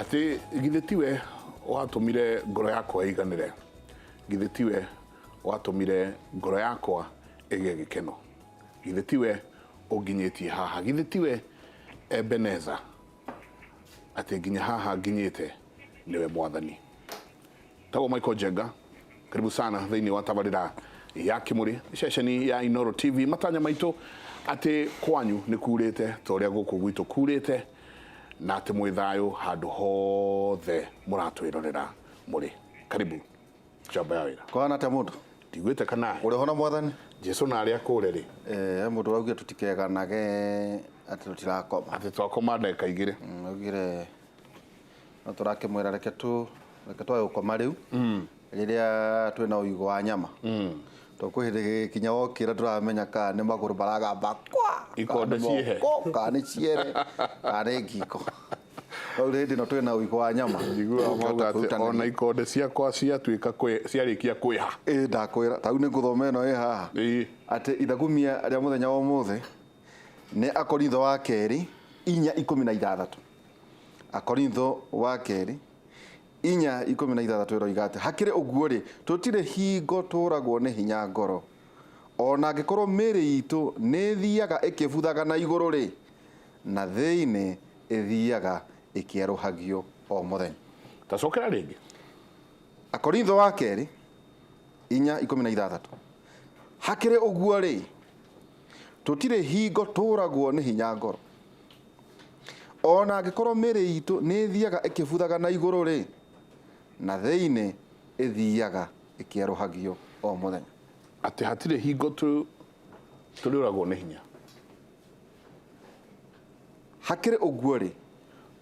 atĩ githĩ tiwe watũmire ngoro yakwa ĩiganĩre githĩ tiwe watũmire ngoro yakwa ĩgĩe gĩkeno githĩ tiwe ũnginyĩtie haha githĩ tiwe ebeneza atĩ nginya haha nginyĩte nĩwe mwathani tagwo Michael Jenga karibu sana thĩinĩ wa tabarĩra ya kimuri ceceni ya Inoro TV matanya maitũ atĩ kwanyu nĩ kurĩte ta ũrĩa gũkũ gwitũ kurĩte na atĩ mwĩ thayũ handũ hothe mũratwĩrorera mũrĩ karibu njamba ya wĩra kwana ta mundu ndigwĩte kana uri hona mwathani jesu na arĩa kũre rĩ eh mundu raugia tutikeganage ati tutirakoma atĩ twakoma ndagĩka igĩrĩ augire na tũrakĩmwĩra reke tũ reke twage gũkoma rĩu rĩrĩa twĩ na ũigũ wa nyama tũkwĩhĩrĩgĩria kinya wokĩra tũramenya kana nĩ magũrũ maragamba kwa Ikonde kana nĩ ciĩhe. moko, kana nĩ ciere kana nĩ ngingo rĩu hĩndĩ ĩno twĩ na ũigũ wa nyama njiguaga Tũkĩhota mauga atĩ kwĩrutanĩria. ona ikonde ciakwa ciatuĩka kwĩ- ciarĩkia kwĩha Ĩĩ, ndakwĩra tarĩu nĩ ngũthoma ĩno ĩ haha Ĩĩ. atĩ ithagumia rĩa mũthenya wa ũmũthĩ nĩ akorintho wa kerĩ inya ikũmi na ithathatũ Akorintho wa kerĩ inya ikũmi na ithathatũ ĩroiga atĩ hakĩrĩ ũguo-rĩ, tũtirĩ hingo tũũragwo nĩ hinya ngoro. O na angĩkorwo mĩĩrĩ itũ nĩ ĩthiaga ĩkĩbuthaga na igũrũ-rĩ, na thĩinĩ ĩthiaga ĩkĩerũhagio o mũthenya. Ta cokera rĩngĩ. Akorintho wa kerĩ inya ikũmi na ithathatũ. Hakĩrĩ ũguo-rĩ. Tũtirĩ hingo tũũragwo nĩ hinya ngoro. O na angĩkorũo mĩĩrĩ itũ nĩ ĩthiaga ĩkĩbuthaga na igũrũ-rĩ, na thĩinĩ ĩthiaga ĩkĩerũhagio o mũthenya. Atĩ hatirĩ hingo tũrĩũragwo nĩ hinya. Hakĩrĩ ũguo-rĩ,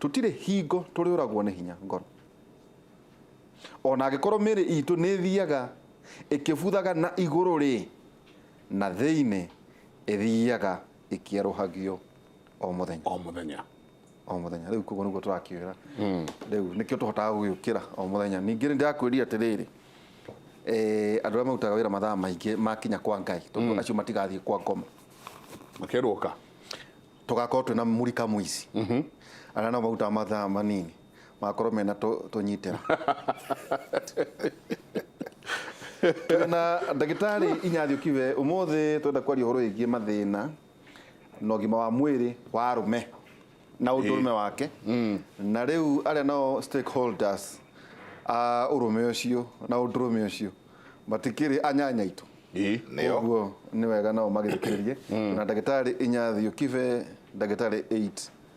tũtirĩ hingo tũrĩũragwo nĩ hinya ngoro. O na angĩkorũo mĩĩrĩ itũ nĩ ĩthiaga ĩkĩbuthaga na igũrũ-rĩ, Na thĩinĩ ĩthiaga ĩkĩerũhagio o mũthenya o mũthenya o mũthenya rĩu koguo nĩguo tũrakiuga hmm. rĩu nĩkĩo tũhotaga gũgĩũkĩra o mũthenya ningĩ nĩ ndĩrakwĩrire atĩrĩrĩ eh, andũ arĩa marutaga wĩra mathaa maingĩ makinya kwa ngai tondũ hmm. acio matigathiĩ kwa ngoma makerũka tũgakorwo twĩna mũrika mũici mhm. arĩa nao marutaga mathaa manini magakorwo mena tũ- tũnyitĩra Twĩ na ndagĩtarĩ inyathi ũkiwe ũmũthĩ twenda kwaria ũhoro wĩgiĩ mathĩna na ũgima wa mwĩrĩ wa arũme na ũndũrũme wake na rĩu arĩa nao stakeholders a ũrũme ũcio na ũndũrũme ũcio matikĩrĩ anyanya itũ Ĩ, nĩo ũguo nĩ wega nao magĩthikĩrĩrie na ndagĩtarĩ inyathi ũkibe ndagĩtarĩ 8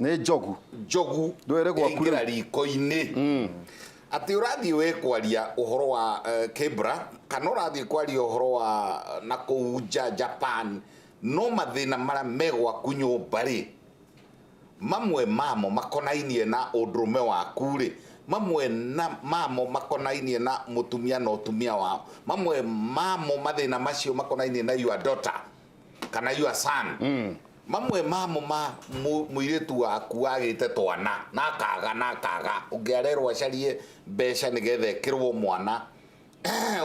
nĩ njogu njogu Ndwere gwaku rĩu. ĩngĩra riko-inĩ atĩ ũrathiĩ we kwaria ũhoro wa eh, kĩbra kana ũrathiĩ kwaria ũhoro wa na kũu nja japan no mathĩna marĩa me gwaku nyũmba rĩ mamwe mamo makonainie na ũndũrũme waku rĩ mamwe na mamo makonainie na mũtumia na ũtumia wao mamwe mamo mathĩna macio makonainie na your daughter kana your son mm. mamwe mamo ma muiritu waku agite twana na kaga na kaga ungiarerwa carie mbeca nigethe kirwo mwana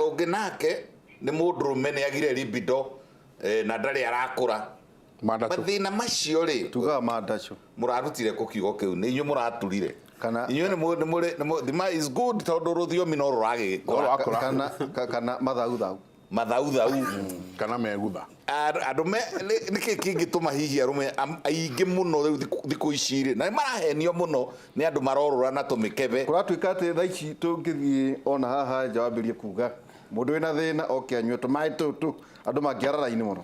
ungi nake ni mundurume ni agire libido eh, na ndari arakura mathina macio ri tugaga mandacu murarutire ku kiugo kiu ni inyu muraturire kana inyu ni muri muri thima is good tondu ruthiomi no ruragi kana kana mathagu thagu mathauthau kana megutha. Arũme nĩ kĩĩ kĩngĩtũma hihi arũme aingĩ mũno rĩu thikũ ici rĩ, na nĩ marahenio mũno nĩ andũ marorũra na tũmĩkebe. Kũratuĩka atĩ thaa ici tũngĩthiĩ ona haha nja wambĩrĩrie kuga mũndũ wĩna thĩna oke anyue tũmaĩ tũtũ, andũ mangĩara raini mũno.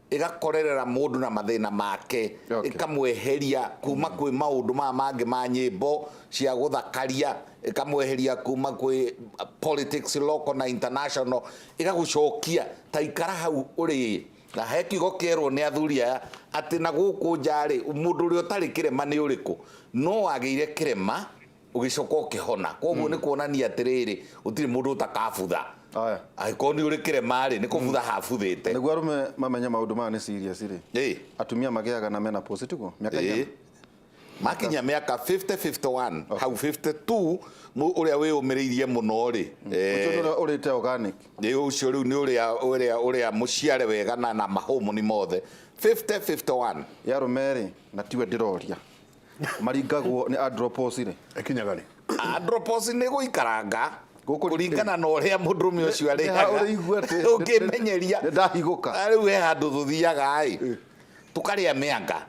ĩgakorerera mũndũ na mathĩna make okay. ĩkamweheria kuma mm. kwĩ maũndũ maya mangĩ ma nyĩmbo cia gũthakaria ĩkamweheria kuma kwĩ uh, politics local na international ĩgagũcokia ta ikara hau ũrĩ na he kiugo kĩerwo nĩ athuri aya atĩ na gũkũ njarĩ mũndũ ũrĩa ũtarĩ kĩrema nĩ ũrĩkũ no wagĩire kĩrema ũgĩcoka ũkĩhona koguo hmm. nĩ kuonania atĩrĩrĩ gũtirĩ mũndũ ũtakabutha angĩkorwo nĩ ũrĩ kĩrema rĩ nĩ kũbutha hmm. habuthĩte nĩguo arũme mamenye maũndũ maya nĩ serious rĩ atumia magĩaga na mena post tiguo mĩaka igana makinya mĩaka 5051 hau 52 ũrĩa wĩyũmĩrĩirie mũno rĩ hmm. eh, ũrĩte organic ũcio rĩu nĩ ũrĩa ũrĩa mũciare wega na mahũmũni mothe 5051 yarũme rĩ na tiwe ndĩroria maringagwo nĩ andropos rĩ ĩkinyaga rĩ andropos nĩ gũikaranga Gũkũ- kũringana na ũrĩa mũndũrũme ũcio arĩaga ũrĩigua atĩ- ũngĩmenyeria nĩ ndahigũka Na rĩu he handũ tũthiaga-ĩ tũkarĩa mĩanga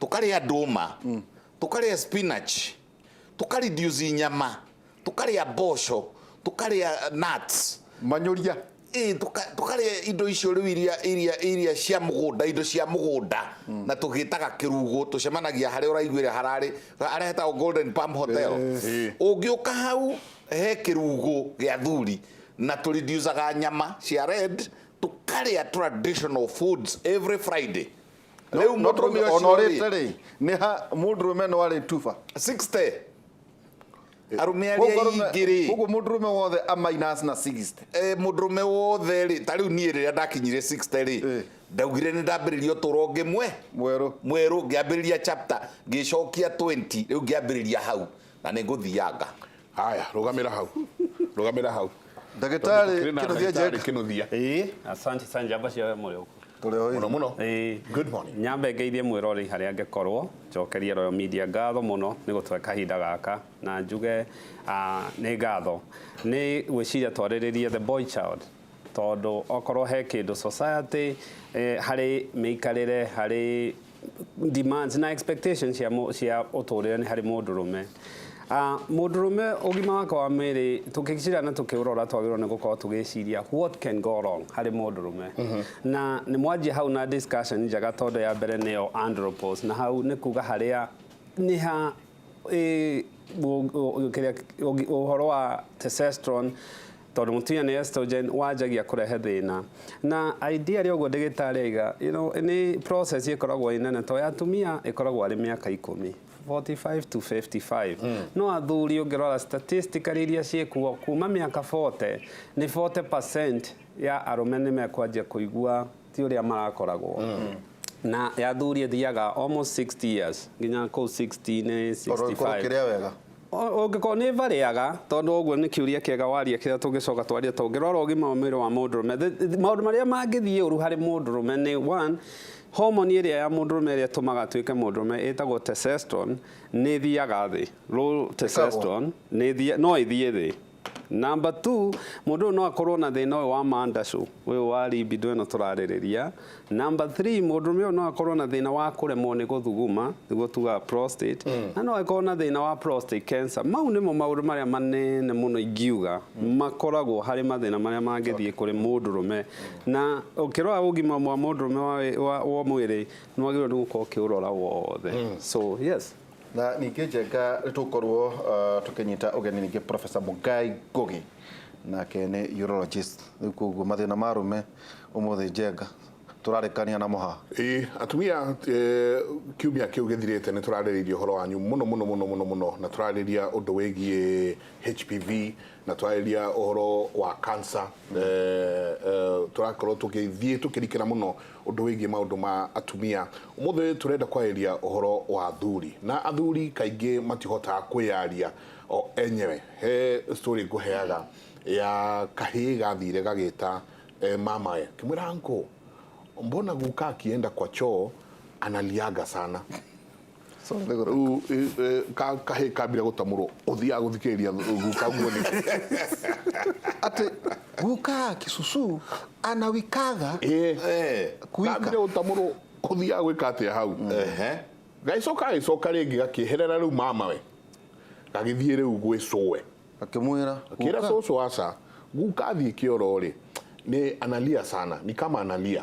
tũkarĩa ndũma tũkarĩa spinach tũkarindiuci nyama tũkarĩa mboco tũkarĩa nuts manyũria Ĩĩ, tũka- tũkarĩa indo icio rĩu iria iria iria cia mũgũnda indo cia mũgũnda na tũgĩtaga kĩrugo tũcemanagia harĩa ũraiguĩra hararĩ harĩa hetagwo golden palm hotel Ĩĩ. ũngĩũka hau he kĩrugo gĩa thuri na tũrindiucaga nyama cia red tũkarĩa traditional foods every friday rĩu no mũndũrũme tũrauga ona ũcio ũrĩte rĩ rĩ nĩ ha mũndũrũme no arĩ tuba 60 arũme arĩa Koguo arũme- ingĩ rĩ koguo mũndũ rũme wothe a minus na 60 eh, mũndũ rũme wothe rĩ ta rĩu niĩ rĩrĩa ndakinyire 60 Eh. rĩ ndaugire nĩ ndambĩrĩria ũtũro ũngĩ mwe mwerũ mwerũ ngĩambĩrĩria chapter ngĩcokia 20 rĩu ngĩambĩrĩria hau na nĩ ngũthianga haya rũgamĩra hau rũgamĩra hau ndagĩtarĩ Tondũ kwĩna kĩnũthia ndagĩtarĩ njeka kĩnũthia ĩĩ asante sana njamba cia mũrĩ ũkũ tũrĩ o mũno mũno Ĩĩ. good morning nyambe ngeithie mwĩrori harĩa angĩkorwo njokerie royal media ngatho mũno nĩ gũtũhe kahinda gaka na njuge ah, nĩ ngatho nĩ gwĩciria twarĩrĩrie the boy child tondũ okorwo he kĩndũ society eh, harĩ mĩikarĩre harĩ demands na expectations cia mũ- cia ũtũrĩre nĩ harĩ mũndũ rũme Ah, mũndũ rũme ũgima wake wa mwĩrĩ tũkĩcira na tũkĩũrora twagĩrĩirwo nĩ gũkorwo tũgĩciria what can go wrong harĩ mũndũ rũme na nĩ mwanjia hau na discussion njega tondũ ya mbere nĩyo andropos na hau nĩ kuga harĩa nĩ ha ĩ- ũ- ũ- kĩrĩa- ũgi- ũhoro wa testosterone Tondũ mũtumia nĩ estrogen wanjagia kũrehe thĩna. Na ideally ũguo ndagĩtarĩ aiga, you know, nĩ process ĩkoragwo ĩ nene to ya atumia ĩkoragwo arĩ mĩaka ikũmi. 45 to 55. Mm. No athuri ũngĩrora statistically iria ciĩkuo kuma mĩaka 40 nĩ 40% ya arũme nĩ mekwanjia kũigua ti ũrĩa marakoragwo. Mm na ya thuri thiaga almost 60 years nginya kå 60 nä 65 wega Ũngĩkorwo nĩ varĩaga, tondũ ũguo nĩ kĩũria kĩega waria kĩrĩa tũngĩcoka twarie ta ũngĩrora ũgima wa mwĩrĩ wa mũndũrũme. Maũndũ marĩa mangĩthiĩ ũru harĩ mũndũrũme nĩ one, homoni ĩrĩa ya mũndũrũme ĩrĩa ĩtũmaga atuĩke mũndũrũme ĩtagwo testosterone nĩ ĩthiaga thĩ. Low testosterone no ĩthiĩ thĩ. Number two, mũndũ ũyũ no akorwo na thĩna ũyũ wa mandacũ, ũyũ wa libido ĩno tũrarĩrĩria. Number three, mũndũrũme ũyũ no akorwo na thĩna wa kũremwo nĩ gũthuguma, nĩguo tugaga prostate, mm. na no akorwo na thĩna wa prostate cancer. Mau nĩmo maũndũ marĩa manene mũno ingiuga mm. makoragwo harĩ mathĩna marĩa mangĩthiĩ kũrĩ mũndũrũme. Na ũkĩrora ũgima mwa mũndũrũme wa mwĩrĩ, nĩ wagĩrĩirwo nĩ gũkorwo ũkĩũrora wothe. Mm. So, yes. na ningĩ njenga nĩ tũgũkorwo uh, tũkĩnyita ũgeni ningĩ profesa mũgai ngũgĩ nake nĩ urologist rĩu koguo mathĩna ma arũme ũmũthĩ njenga tũrarĩkania na mũha Ĩĩ, atumia eh, kiumia kĩu gĩthirĩte nĩ tũrarĩrĩirie ũhoro wanyu mũno mũno mũno mũno mũno na tũrarĩria ũndũ wĩgiĩ HPV na twarĩria ũhoro wa cancer eh, eh, tũrakorwo tũgĩthiĩ tũkĩrikĩra mũno ũndũ wĩgiĩ maũndũ ma atumia ũmũthĩ tũrenda kwarĩria ũhoro wa athuri na athuri kaingĩ matihotaga kwĩyaria o enyewe he story ngũheaga ya kahĩĩ gathire gagĩta eh, mamawe kĩmwĩra anko mbona guka akienda kwa choo analiaga sana Rĩu eh, eh, ka- kahĩ kambire gũtamũrwo ũthiaga gũthikĩrĩria guka guo nĩ atä guka kisusu anawikaga Eh, Kuika. kambire gũtamũrwo ũthiaga gwĩka atĩa hau ehe. gagĩcoka gagĩcoka rĩngĩ gakĩeherera rĩu mamawe gagĩthiĩ rĩu gwĩ cũwe akĩmwĩra kĩra guka. cũcũ aca guka thiĩ kĩoro rĩ nĩ analia sana ni kama analia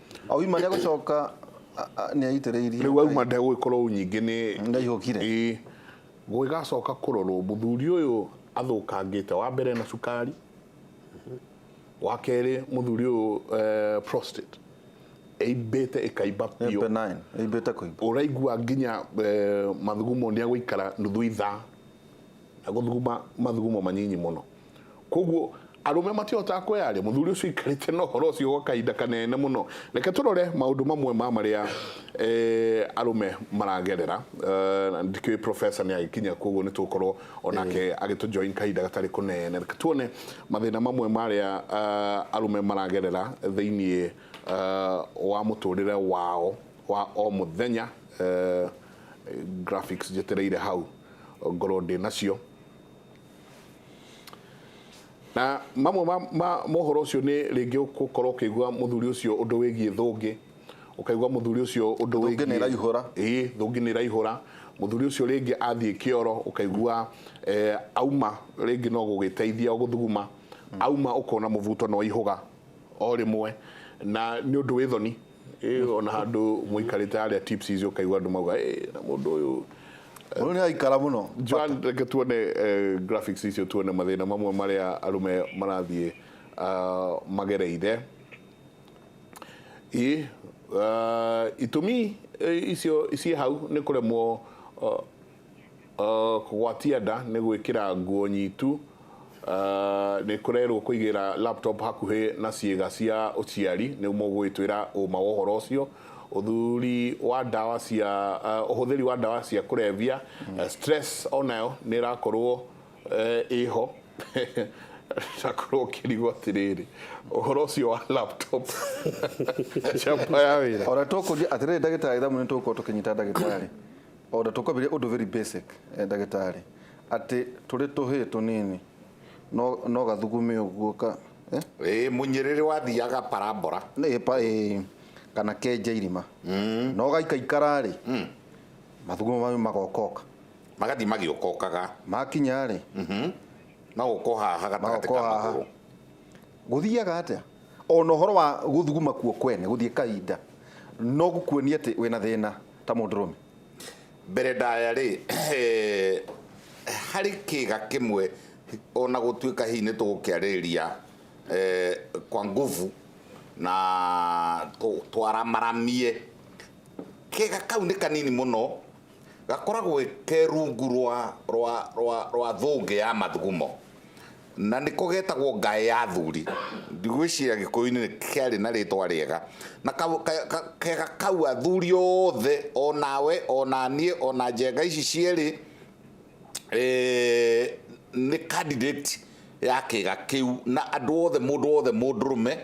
Auma nĩ agũcoka nĩ aitĩrĩirie. Rĩu auma ndegũgĩkorwo nyingĩ nĩ ndaihũkire. Ĩĩ. Gũgĩgacoka kũrorwo mũthuri ũyũ athũkangĩte wa mbere na cukari, wa kerĩ mũthuri ũyũ eh, prostate ĩimbĩte ĩkaimba biũ. Benign, ĩimbĩte kũimba. Ũraigua nginya eh, mathugumo nĩ agũikara nuthu ithaa. na gũthuguma mathugumo manyinyi mũno koguo arũme matihotaga kwĩyaria mũthuri ũcio ikarĩte na ũhoro ũcio gwa kahinda kanene mũno reke tũrore maũndũ mamwe ma marĩa eh, arũme maragerera eh, ndikĩũĩ professor nĩ agĩkinya koguo nĩ tũgũkorwo onake eh. agĩtũjoin kahinda gatarĩ kũnene reke tuone mathĩna mamwe marĩa eh, arũme maragerera thĩinĩ wa mũtũrĩre wao wa o mũthenya graphics njetereire hau ngorwo ndĩ nacio na mamwe ma, ma mohoro ũcio nĩ rĩngĩ gũkorwo ũkĩigua mũthuri ũcio ũndũ wĩgiĩ thũngĩ ũkaigua mũthuri ũcio ũndũ Thũngĩ wĩgiĩ- nĩĩraihũra. ĩĩ thũngĩ nĩ ĩraihũra mũthuri ũcio rĩngĩ athiĩ kĩoro ũkaigua eh, auma rĩngĩ no gũgĩteithia gũthuguma auma ũkona mũbuto nĩ waihũga o rĩmwe na nĩ ũndũ wĩ thoni Eh, ona handu muikarite haria tips icio kaigua andu mauga eh na mundu uyu Uyu ni aikara muno. Joan reke tuone eh, graphics icio tuone mathina mamwe maria arume marathie ah, magereire i ah, itumi eh, icio ciĩ hau nĩ kũremwo ah, Kũgwatia nda nĩ gwĩkĩra nguo nyitu, nĩ kũrerwo kũigĩra laptop hakuhĩ na ciĩga cia ũciari nĩ guo mũgũgĩtwĩra ũma wa ũhoro ũcio. Ũthuri wa ndawa cia, ũhũthĩri wa ndawa cia kũrebia, stress o nayo nĩ ĩrakorwo ĩho ũgakorwo ũkĩrigwo atĩrĩrĩ ũhoro ũcio wa laptop njamba ya wĩra. O na tũkũria atĩrĩrĩ ndagĩtarĩ tha nĩ tũgũkorwo tũkĩnyita ndagĩtarĩ. O ta tũkobire ũndũ very basic ndagĩtarĩ atĩ tũrĩ tũhĩĩ tũnini no no gathugume ũguo ka eh? Ĩĩ mũnyĩrĩrĩ wathiaga parambora. Nĩ pa ĩ kana kenja irima mm. no gaikaikara rĩ mm. mathugumo mau magokoka magathiĩ magĩũkokaga makinya rĩ mm -hmm. magokohaha gatagatĩ ka magũrũ Gũthiaga atĩa? O na ũhoro wa gũthuguma kuo kwene gũthiĩ kahinda no gũkuonie atĩ wĩ na thĩna ta mũndũrũme. Mbere ndaya-rĩ, harĩ kĩĩga kĩmwe o na gũtuĩka hihi nĩ tũgũkĩarĩrĩria kwa nguvu na twaramaramie, kĩĩga kau nĩ kanini mũno, gakoragwo ke rungu rwa thũngĩ ya mathugumo. Na nĩko getagwo Ngaĩ ya Athuri. Ndigwĩciria Gĩkũyũ-inĩ nĩ kearĩ na rĩĩtwa rĩega. Na kega kau athuri othe, o nawe, o na niĩ, o na njenga ici cierĩ, nĩ candidate ya kĩga kĩu. Na andũ othe, mũndũ wothe mũndũrũme,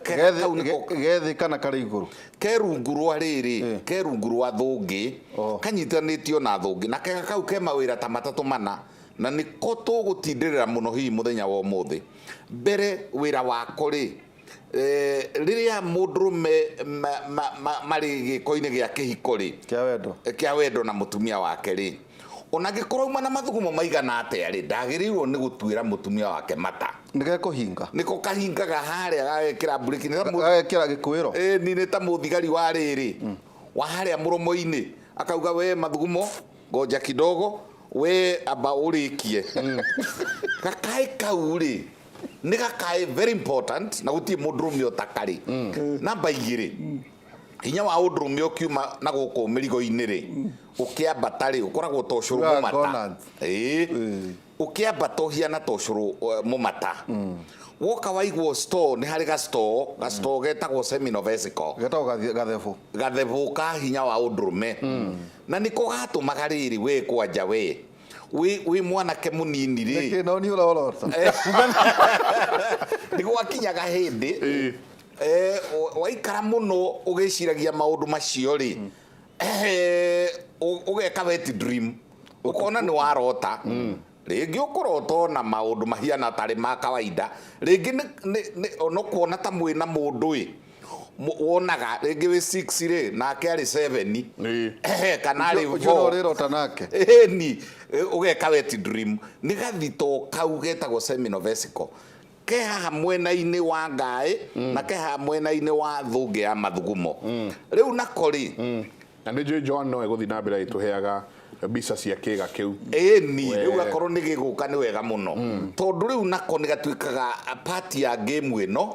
kega kau nĩko. Ke thĩ kana karĩ igũrũ? Ke rungu rwa rĩrĩ, ke rungu rwa thũngĩ, kanyitanĩtio na thũngĩ. Na kega kau ke mawĩra ta matatũ mana. Na nĩko tũgũtindĩrĩra mũno hihi mũthenya wa ũmũthĩ. Mbere wĩra wako-rĩ, eh, rĩrĩa mũndũrũme ma, ma, ma, marĩ gĩko-inĩ gĩa kĩhiko-rĩ, Kĩa wendo. kĩa wendo na mũtumia wake-rĩ, ona angĩkorwo auma na mathugumo maigana atĩa-rĩ, ndagĩrĩirwo nĩ gũtuĩra mũtumia wake mata. Nĩgekũhinga. Nĩko kahingaga harĩa gagekĩra mburĩki nĩ ta mũ- Gagekĩra gĩkuĩro. Ĩni nĩ ta mũthigari wa rĩrĩ wa harĩa mũromo-inĩ akauga we mathugumo ngoja kidogo we amba ũrĩkie gakaĩ kau rĩ nĩ gakaĩ very important na gũtirĩ mũndũrũme ũtakarĩ namba igĩrĩ hinya wa ũndũrũme ũkiuma na gũkũ mĩrigo-inĩ rĩ ũkĩambata rĩ ũkoragwo ta ũcũrũ Ũrĩa mũmata conant. Ĩĩ. ũkĩambata ũhiana ta ũcũrũ eh, mũmata woka waigwo store nĩ harĩ ga store ga store getagwo seminal vesicle getagwo gathi- gathebũ gathebũ ka hinya wa ũndũrũme na nĩko gatũmaga rĩrĩ we kwanja we wĩ wĩ mwanake mũnini rĩ Nĩkĩ, no niĩ ũrorota nĩ gwakinyaga hĩndĩ eh, wa- waikara mũno ũgĩciragia maũndũ macio rĩ Eh, ũ- ũgeka wet dream ũkona nĩ warota rĩngĩ ũkũrota ona maũndũ mahiana tarĩ ma kawaida rĩngĩ nĩ- nĩ- nĩ- ona ũkuona ta mwĩ na mũndũ ĩ mũ- wonaga rĩngĩ wĩ 6 rĩ nake arĩ 7 Ĩĩ. kana arĩ Ũcio four. nĩ ũrĩrota nake Ĩni, ĩ, ũgeka wet dream nĩ gathito kau getagwo seminal vesicle Ke haha mwena-inĩ wa ngaĩ na ke haha mwena-inĩ wa thũngĩ ya mathugumo. Rĩu nako-rĩ, Na nĩ njũĩ Joan no egũthiĩ na mbere agĩtũheaga mbica cia kĩĩga kĩu. Ĩĩni, We. rĩu akorwo nĩ gĩgũka nĩ wega mũno. Tondũ rĩu nako nĩ gatuĩkaga part ya game ĩno.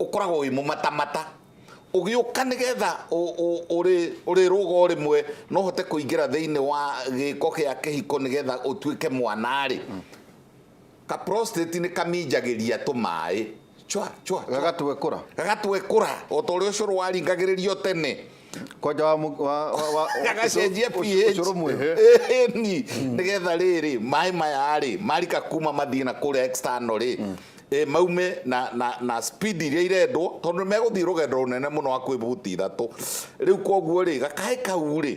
ũkoragwo wĩ mũmatamata ũgĩũka nĩgetha ũrĩrũga o rĩmwe no ũhote kũingĩra thĩinĩ wa gĩko gĩa kĩhiko nĩgetha ũtuĩke mwana-rĩ, ka prostate nĩ kaminjagĩria tũmaĩ cwa cwa cwa. Gagatwekũra. Gagatwekũra o ta ũrĩa ũcũrũ waringagĩrĩrio tene. kwanja wa mu- wa- wa- wa- agacenjia ũcũ- ũcũrũ mwerũ. pH ni nigetha rĩrĩ maĩ maya rĩ marika kuma mathiĩ na kũrĩa external rĩ eh, maume na, na, na speed iria irendwo tondũ megũthiĩ rũgendo rũnene mũno wa kwĩbuti ithatũ rĩu koguo rĩ gakaĩ kau rĩ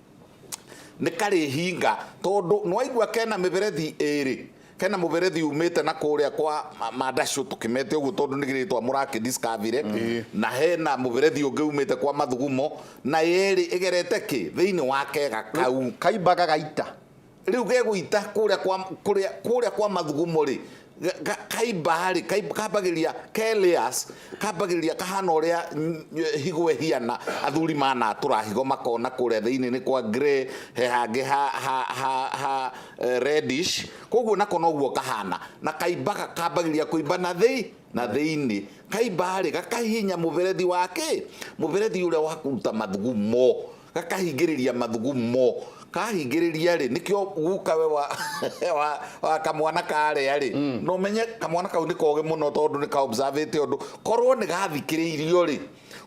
nĩ karĩhinga tondũ nĩwaigua kena mĩberethi ĩrĩ kena mũberethi umĩte na kũrĩa kwa ma- mandacũ tũkĩmete ũguo tondũ nĩ gĩrĩtwa mũrakĩdiskavire na hena mũberethi ũngĩ umĩte kwa mathugumo na yerĩ ĩgerete kĩ thĩinĩ wa kega kau kaimbaga gaita rĩu gegũita kũrĩa kwa kũrĩa kũrĩa kwa mathugumo rĩ ga- ga- kaimba rĩ kaimba- kambagĩria keleas kambagĩria kahana ũrĩa mm, higo ĩhiana athuri manatũra higo makona kũrĩa thĩinĩ nĩ kwa grey he hangĩ ha, ha, ha, ha eh, reddish koguo nako noguo kahana na kaimbaga kambagĩria kũimba na thĩ na thĩinĩ, kaimba-rĩ, gakahihinya mũberethi wa kĩ? Mũberethi ũrĩa wa kũruta mathugumo, gakahingĩrĩria mathugumo. Kahingĩrĩria-rĩ, nĩkĩo gukawe wa, wa, wa kamwana karĩa-rĩ, mm. no menye kamwana kau nĩ kogĩ mũno tondũ nĩ ka observate ũndũ korwo nĩ gathikĩrĩirio-rĩ,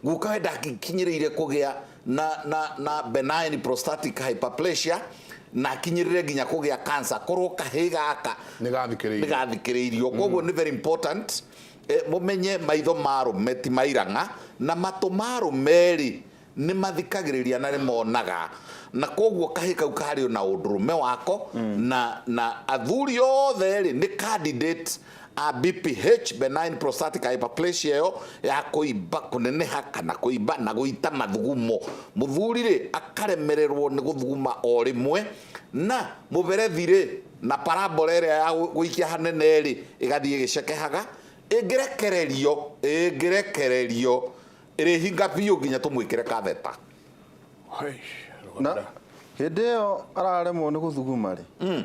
gukawe ndakinyĩrĩire kũgĩa na, na, na benign prostatic hyperplasia na akinyĩrĩre nginya kũgĩa cancer korwo kahĩ gaka nĩ gathikĩrĩirio nĩ gathikĩrĩirio koguo nĩ very important eh, mũmenye maitho ma arũme ti mairang'a na matũ ma arũme rĩ nĩ mathikagĩrĩria na nĩ monaga na koguo kahĩ kau karĩ o na ũndũrũme wako na na athuri othe rĩ nĩ candidate a BPH, benign prostatic hyperplasia ĩyo ya kũimba kũneneha kana kũimba na gũita mathugumo mũthuri rĩ akaremererwo nĩ gũthuguma o rĩmwe na mũberethi rĩ na parabora ĩrĩa ya gũikia hanene rĩ ĩgathiĩ ĩgĩcekehaga ĩngĩrekererio ĩngĩrekererio ĩrĩhinga biũ nginya tũmwĩkĩre katheta na hĩndĩ ĩyo araremwo nĩ gũthuguma rĩ hmm.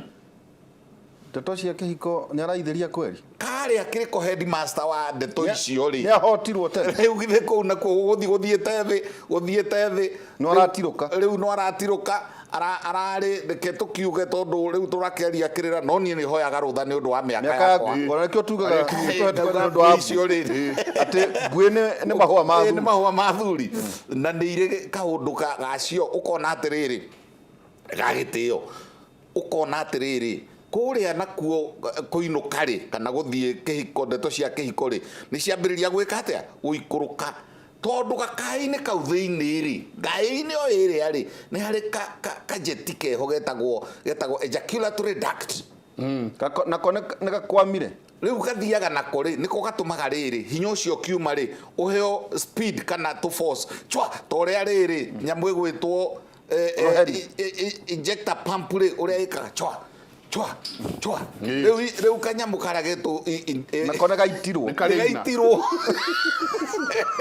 Ndeto cia kĩhiko nĩaraithĩria kweri? Karĩ akĩrĩko headmaster wa ndeto icio rĩ. Nĩahotirwo tene. Rĩu githĩ kũu nakuo gũgũthiĩ gũthiĩte thĩ, gũthiĩte thĩ. No aratirũka. Rĩu no aratirũka ararĩ reke tũkiuge tondũ rĩu tũrakeria kĩrĩra no niĩ nĩ hoyaga rũtha nĩ ũndũ wa mĩaka yakwa ngona nĩkĩo tugaga nĩũndũ wa icio rĩ atĩ mbuĩ nĩ mahũa ma thuri nĩ mahũa ma thuri na nĩ irĩ kaũndũ gacio ũkona atĩrĩrĩ gagĩtĩo ũkona atĩrĩrĩ kũrĩa nakuo eh, kũinũka rĩ kana gũthiĩ kĩhiko ndeto cia kĩhiko rĩ nĩ ciambĩrĩria gwĩka atĩa gũikũrũka tondũ gakaĩ-inĩ kau thĩinĩ rĩ ngaĩ-inĩ o ĩrĩa rĩ nĩ harĩ ka- ka- kajeti keho getagwo getagwo ejaculatory duct Mm, gako- nako nĩ- nĩ gakwamire rĩu gathiaga nako rĩ nĩko gatũmaga rĩrĩ hinya ũcio kiuma rĩ ũheo speed kana tũ force chwa ta ũrĩa rĩrĩ nyamũ ĩgwĩtwo eh, eh, Uruheri. i- i- i- injector pump rĩ ũrĩa ĩkaga chwa chwa chwa Nĩ. rĩu i- rĩu kanyamũ karagetwo i- i- eh, na kone gaitirwo Nĩ karĩ ina. gaitirwo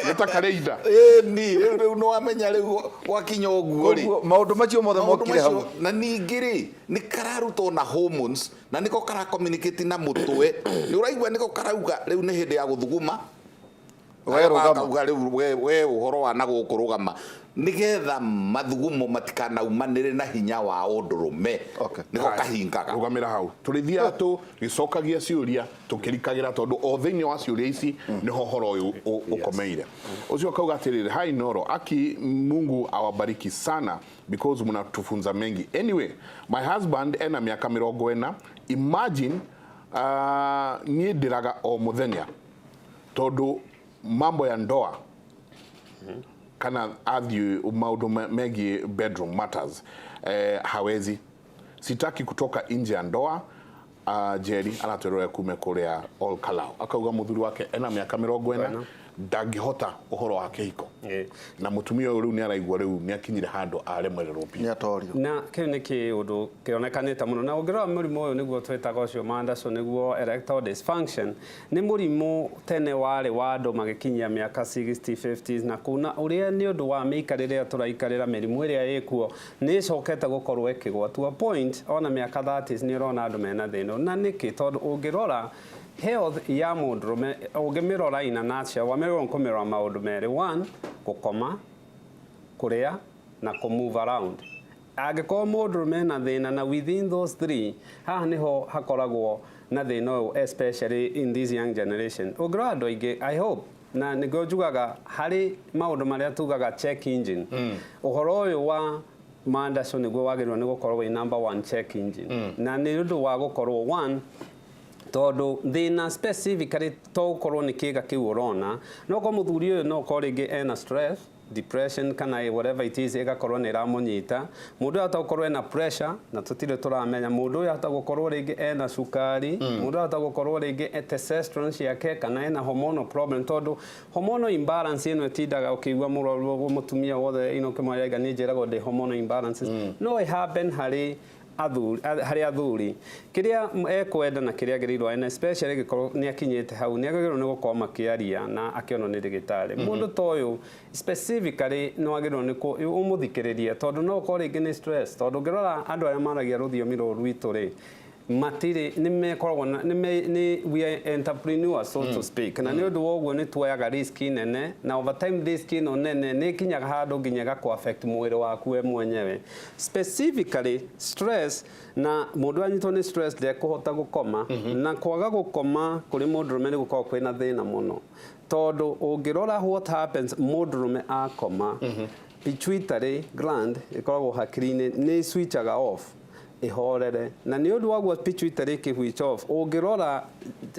nĩ ta karĩ ina Eh, ni rĩu rĩu nĩ wamenya rĩu gwakinya ũguo rĩ Koguo, maũndũ macio mothe Maũndũ mokire hau macio- na ningĩ rĩ nĩ kararuta ona hormones na nĩko karakomunicate na mũtwe nĩ ũraigua nĩko karauga rĩu nĩ hĩndĩ ya gũthuguma ũgaruga rĩu we ũhoro wa na gũkũ rũgama nigetha mathugumo matikanaumanĩre na hinya wa ũndũrũme nĩko kahingaga rũgamĩra hau tũrĩthiaga tũ gĩcokagia ciũria tũkĩrikagĩra tondũ o thĩinĩ wa ciũria ici nĩho ũhoro ũyũ ũkomeire ũcio akauga atĩrĩrĩ hai noro aki mungu awabariki sana because mnatufunza mengi anyway my husband ena mĩaka mĩrongo ĩna imagine uh, niĩ ndĩraga o mũthenya tondå mambo ya ndoa kana athiä maundu me- megiä bedroom matters eh, hawezi sitaki kutoka nje ya ndoa uh, jeri aratwerwo kume kũrĩa all kalau akauga mũthuri wake ena mĩaka mĩrongo ĩna ndangĩhota ũhoro wa kĩhiko Eh. na mũtumia ũyũ rĩu nĩ araigua rĩu nĩ akinyire handũ aremererwo biũ nä atorio na kä u nä kä å ndå kä onekanä te må no na å ngä rora må rimå å yå nä guo twä taga å cio mandaco nä guo erectile dysfunction Nĩ mũrimũ tene warĩ wa andũ magĩkinyia mĩaka 60, 50s na kũu na ũrĩa nĩ ũndũ wa mĩikarĩre ĩrĩa tũraikarĩra mĩrimũ ĩrĩa ĩkuo nĩ ĩcokete gũkorwo ĩkĩgwa to a point ona mĩaka 30s nĩ ũrona andũ mena thĩna ũyũ na nĩkĩ? Tondũ ũngĩrora health ya mũndũrũme ũngĩmĩrora in a nutshell wagĩrĩirwo nĩ kũmĩrora maũndũ merĩ, one gũkoma, kũrĩa na kũ move around. Angĩkorwo mũndũrũme ena thĩna na within those three, haha nĩho hakoragwo na thĩna ũyũ especially in this young generation. Ũngĩrora andũ aingĩ, I hope, na nĩkĩo njugaga harĩ maũndũ marĩa tugaga check engine, mm. ũhoro ũyũ wa mandacũ nĩguo wagĩrĩirwo nĩ gũkorwo wĩ number one check engine. Mm. Na nĩ ũndũ wa gũkorwo one, tondå thä na specifically to å korwo nä kä ga kä u å rona no korwo må thuri å yå no korwo rä ngä ena stress depression kana ĩ whatever it is ĩgakorwo nĩ ĩramũnyita mũndũ ũyũ ahota gũkorwo ena pressure na tũtirĩ tũramenya mũndũ ũyũ ahota gũkorwo rĩngĩ ena cukari mũndũ ũyũ ahota gũkorwo rĩngĩ e testosterone ciake kana ena hormonal problem tondũ hormonal imbalance ĩno ĩtindaga ũkĩigua mũrwaru ũguo mũtumia wothe ĩno ũkĩmwarĩria nĩ njĩragwo ndĩ hormonal imbalance no ĩ happen harĩ athuri a, harĩ athuri kĩrĩa ekwenda na kĩrĩa agĩrĩirwo ena especially gĩkorwo nĩ akinyĩte hau nĩ agĩrĩirwo nĩ gũkorwo makĩaria na akĩonwo nĩ ndagĩtarĩ mm -hmm. mũndũ toyũ specifically nĩ wagĩrĩirwo nĩ ũmũthikĩrĩria tondũ no ũkorwo rĩngĩ nĩ stress tondũ ũngĩrora andũ arĩa maragia rũthiomi rũrũ rwitũ rĩ matirĩ nĩ mekoragwo nĩ me nĩ we are entrepreneurs so mm. to speak na nĩ mm. ũndũ wa ũguo nĩ tuoyaga risk nene na over time risk ĩno nene nĩ kinyaga handũ nginya gakũ affect mwĩrĩ waku we mwenyewe Specifically stress na mũndũ anyitwo nĩ stress ndekũhota gũkoma mm -hmm. na kwaga gũkoma kũrĩ mũndũrũme nĩ gũkorwo kwĩ na thĩna mũno tondũ ũngĩrora what happens mũndũrũme akoma mm -hmm. pituitary gland ĩkoragwo hakiri-inĩ nĩ switchaga off ihorere na nä å ndå waguo pituitary kä which off å ngä rora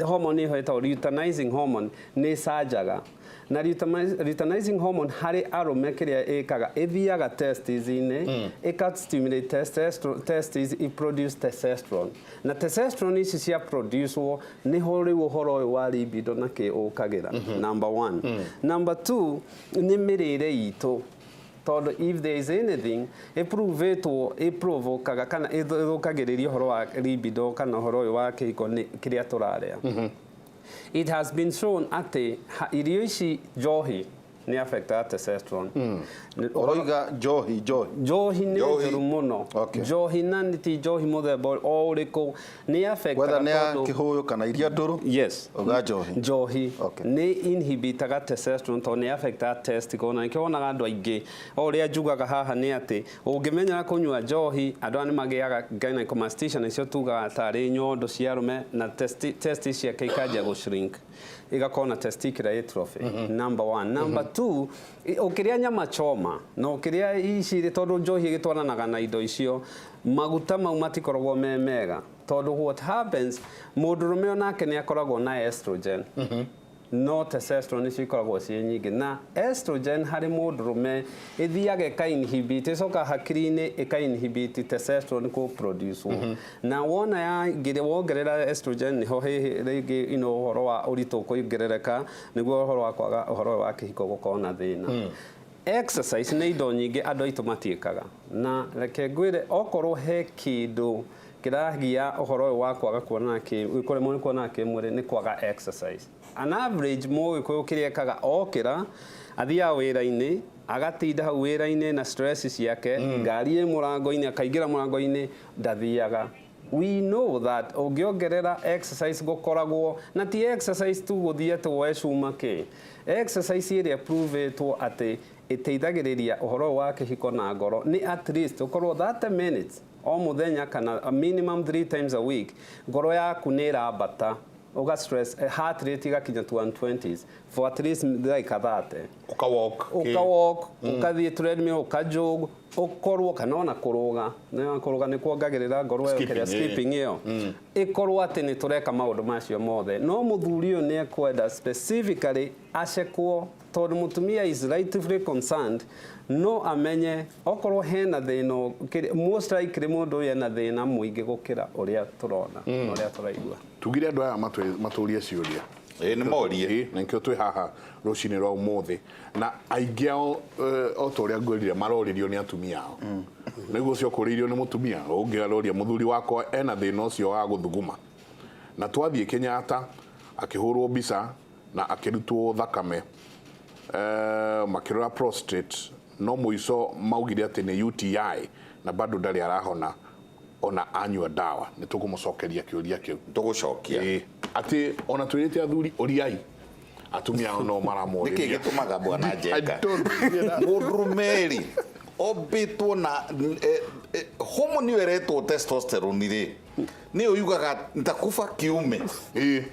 hormone ä yo ä tagwo luteinizing hormone nä canjaga na lutami- luteinizing hormone harĩ arũme kĩrĩa ĩkaga ĩthiaga testis-inĩ mm. ĩka stimulate testosterone testis i produce testosterone na testosterone ici cia producewo nĩho rĩu ũhoro ũyũ wa libido na kĩ ũkagĩra mm -hmm. number one mm. number two nĩ mĩrĩre itũ tondũ if there is anything ĩprovetwo ĩprovokaga kana ĩthũkagĩrĩria ũhoro wa libido kana ũhoro ũyũ wa kĩhiko nĩ kĩrĩa tũrarĩa mm -hmm It has been shown atĩ ha- irio ici njohi nĩ affectaga testosterone. Mm. Ũroiga njohi njohi. Njohi nĩ Njohi. njũru mũno. Okay. Njohi na nĩ ti njohi mũthemba ũrĩ- o ũrĩkũ nĩ affectaga Whether nĩ ya tondũ- kĩhũyũ kana iria ndũrũ. Yes. Uga njohi. Njohi. Okay. Nĩ inhibitaga testosterone tondũ nĩ affectaga testicle na nĩkĩo wonaga andũ aingĩ. O ũrĩa njugaga haha nĩ atĩ Ũngĩmenyera kũnyua njohi, andũ aya nĩmagĩaga gynecomastia nĩcio tugaga tarĩ nyondo cia arũme na testi, testis ciake ikanjia gũ shrink igakorwo na testicular atrophy number one. Number two, i- ũkĩrĩa nyama choma na ũkĩrĩa ici rĩ, tondũ njohi ĩgĩtwaranaga na indo icio, maguta mau matikoragwo me mega tondũ what happens, mũndũrũme onake nĩakoragwo na estrogen No testosterone nĩcio ikoragwo ciĩ nyingĩ na estrogen harĩ mũndũrũme ĩthiaga ĩka inhibit ĩcoka hakiri-inĩ ĩka inhibit testosterone kũ produce wo mhm. na wona ya ngire wongerera estrogen niho hihi rĩngĩ ino ũhoro wa ũritũ kũongerereka nĩguo ũhoro wa kwaga ũhoro wa kĩhiko gũkorwo na thĩna hmm. exercise nĩ indo nyingĩ andũ aitũ matiĩkaga na reke ngwĩre okorwo he kĩndũ Kĩragia ũhoro ũyũ wa kwaga kuonana kĩmwĩrĩ, kũremwo nĩ kuonana kĩmwĩrĩ nĩ kwaga exercise. On average mũgĩkũyũ kĩrĩa ekaga okĩra, athiaga wĩra-inĩ, agatinda hau wĩra-inĩ na stress ciake, mm. ngari ĩ mũrango-inĩ, akaingĩra mũrango-inĩ, ndathiaga we know that ũngĩongerera exercise gũkoragwo na ti exercise tu gũthiĩ atĩ woe cuma kĩ exercise ĩrĩa provetwo atĩ ĩteithagĩrĩria ũhoro wa kĩhiko na ngoro nĩ at least ũkorwo 30 minutes o mũthenya kana a minimum three times a week, ngoro yaku nĩ ĩrambata, ũga stress, heart rate ĩgakinya to 120s for at least ndagĩka 30. Ũka walk. Ũka walk, mm. ũkathiĩ treadmill, ũka jog, ũkorwo kana ona kũrũga, na kũrũga nĩ kuongagĩrĩra ngoro ĩyo kĩrĩa skipping ĩyo. Mm. Ĩkorwo atĩ nĩ tũreka maũndũ macio mothe. No mũthuri ũyũ nĩ ekwenda specifically acekwo tondũ mũtumia is rightfully concerned no amenye Okorwo hena thĩna ũkĩrĩ, most likely mũndũ ũyũ ena thĩna mũingĩ gũkĩra ũrĩa tũrona na ũrĩa tũraigua. Tugire andũ aya matwĩ- matũrie ciũria Ĩĩ, nĩ morie. Ĩĩ, na nĩkĩo twĩ haha rũcinĩ rwa ũmũthĩ na aingĩ ao eh, o ta ũrĩa ngwĩrire maroririo nĩ atumia ao nĩguo ũcio ũkũrĩirio nĩ mũtumia ũngĩ aroria mũthuri wakwa ena thĩna ũcio wa gũthuguma na twathiĩ Kenyatta akĩhũrwo mbica na akĩrutwo thakame eh, makĩrora prostrate No mũico maugire atĩ nĩ UTI na bado ndarĩ arahona ona anyua dawa. Nĩtũkũmũcokeria kĩũria kĩu. Tũgũcokia. Ĩĩ. Atĩ ona twĩrĩte athuri ũriai atumia ao no maramorĩria. Nĩkĩ gĩtũmaga bwana Njenga mũndũrũme-rĩ ombĩtwo na hormone ĩyo ĩretwo testosterone-rĩ nĩyo yugaga nitakufa kiume. Ĩĩ.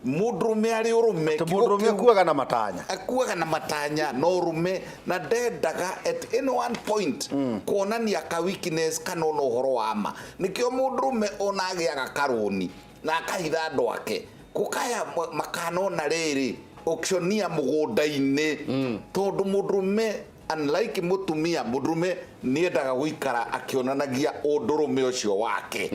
mũndũrũme arĩ ũrũme Atĩ kiugo mũndũrũme kĩu- kuaga na matanya akuaga na matanya na ũrũme na ndendaga at any one point kuonania ka weakness kana ona ũhoro wa ma nĩkĩo mũndũrũme ona agĩaga karũni na akahitha andũ ake gũkaya ma- makanona rĩrĩ auctionia mũgũnda-inĩ tondũ mũndũrũme unlike mũtumia mũndũrũme nĩendaga gũikara akĩonanagia ũndũrũme ũcio wake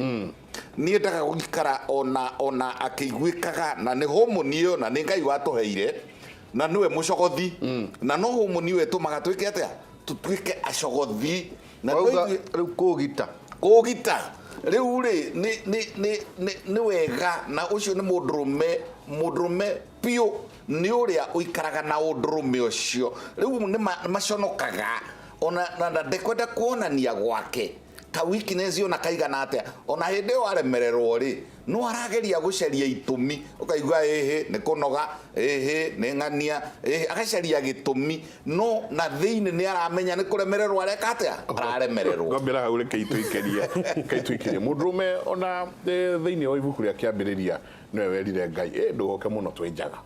Nĩendaga gũikara o na o na akĩiguĩkaga, na nĩ homoni ĩyo, na nĩ Ngai watũheire, na nĩwe mũcogothi, na no homoni ĩyo ĩtũmaga twĩke atĩa? Tũtuĩke acogothi. Na no Wauga ithuĩ- rĩu kũũgita. kũũgita rĩu rĩ nĩ- nĩ- nĩ- nĩ- nĩ wega na ũcio nĩ mũndũrũme mũndũrũme biũ nĩ ũrĩa ũikaraga na ũndũrũme ũcio rĩu nĩ ma- nĩ maconokaga ona na- na ndekwenda kuonania gwake Ka weakness ona kaigana atia, ona hindi iyo waremererwo ri, no arageria gucaria itumi, ukaigua ĩhĩ nĩ kũnoga, ĩhĩ nĩ ng'ania, ĩhĩ, agacaria gĩtũmi, no na thĩinĩ nĩ aramenya nĩ kũremererwo areka atia, araremererwo. Ngwambĩra hau rekei tũikĩrie, rekei tũikĩrie. Mũndũrũme ona thĩinĩ wa ibuku rĩa kĩambĩrĩria nĩwe werire Ngai, ĩ ndũgoke mũno twĩ njaga.